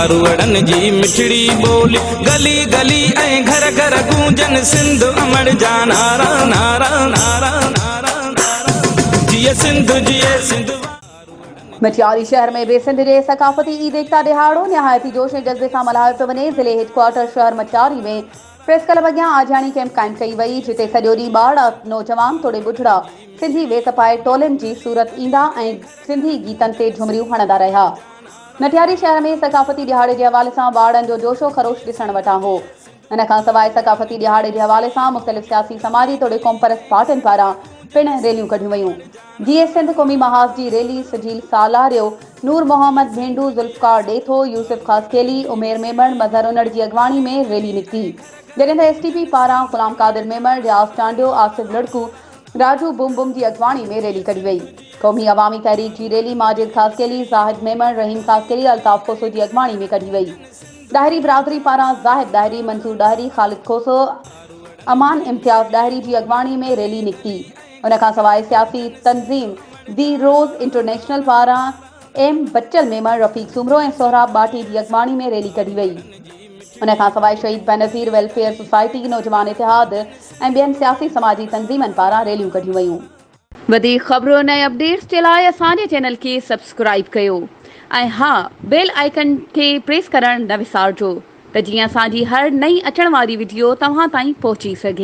ماروئڙن جي مٺڙي ٻولي گلي گلي ۽ گهر گهر گونجن سنڌ امڙ جا نعرا نعرا نعرا نعرا نعرا جيئي سنڌ جيئي سنڌ مٽياري شهر ۾ به سنڌ جي ثقافتي عيد ايڪتا ڏهاڙو نهايت ئي جوش ۽ جذبي سان ملهايو پيو وڃي، ضلعي هيڊ ڪوارٽر شهر مٽياري ۾ پريس ڪلب اڳيان آجياڻي ڪئمپ قائم ڪئي وئي، جتي سڄو ڏينهن ٻارڙا، نوجوان توڙي ٻڍڙا سنڌي ويس پائي ٽولين جي صورت ايندا ۽ سنڌي گيتن تي جهمريون هڻندا رهيا. نٽياري شهر ۾ ثقافتي ڏهاڙي جي حوالي سان واڙن جو جوش و خروش ڏسڻ وٽان هو. ان کان سواء ثقافتي ڏهاڙي جي حوالي سان مختلف سياسي سماجي توڙي قومپرست پارٽين پاران پڻ ريليون ڪڍيون ويون جيئن سنڌ قومي محاذ جي ريلي سجيل سالاريو، نور محمد ڀينڊو، ذوالفقار ڏيٿو، يوسف خاصخيلي، عمير ميمڻ، مظهر انڙ جي اڳواڻي ۾ ريلي نڪتي جڏهن ته ايس ٽي پي پاران غلام قادر ميمڻ، رياض چانڊيو، آصف لڙڪو، راجو بم بم جي اڳواڻي ۾ ريلي ڪڍي وئي. قومي عوامي تحريڪ جي ريلي ماجد خاصخيلي، زاهد ميمڻ، رحيم خاصخيلي، الطاف کوسو جي اڳواڻي ۾ ڪڍي وئي. ڏاهري برادري پاران زاهد ڏاهري، منصور ڏاهري، خالد کوسو، امان امتياز ڏاهري جي اڳواڻي ۾ ريلي نڪتي. ان کان سواء سياسي تنظيم دي روز انٽرنيشنل پاران ايم بچل ميمڻ، رفيق سومرو ۽ سهراب ٻاٽي جي اڳواڻي ۾ ريلي ڪڍي وئي. ان کان سواء شهيد بينظير ويلفيئر سوسائٽي، نوجوان اتحاد ۽ ٻين سياسي سماجي تنظيمن پاران ريليون ڪڍيون ويون. وڌيڪ خبرن ۽ اپڊيٽس جي لاء اسان جي چينل کي سبسڪرائيب ڪيو ۽ ها بيل آئيڪن کي پريس ڪرڻ نه وسارجو ته جيئن اسان جي هر نئين اچڻ واري وڊيو توهان تائين پهچي سگهي.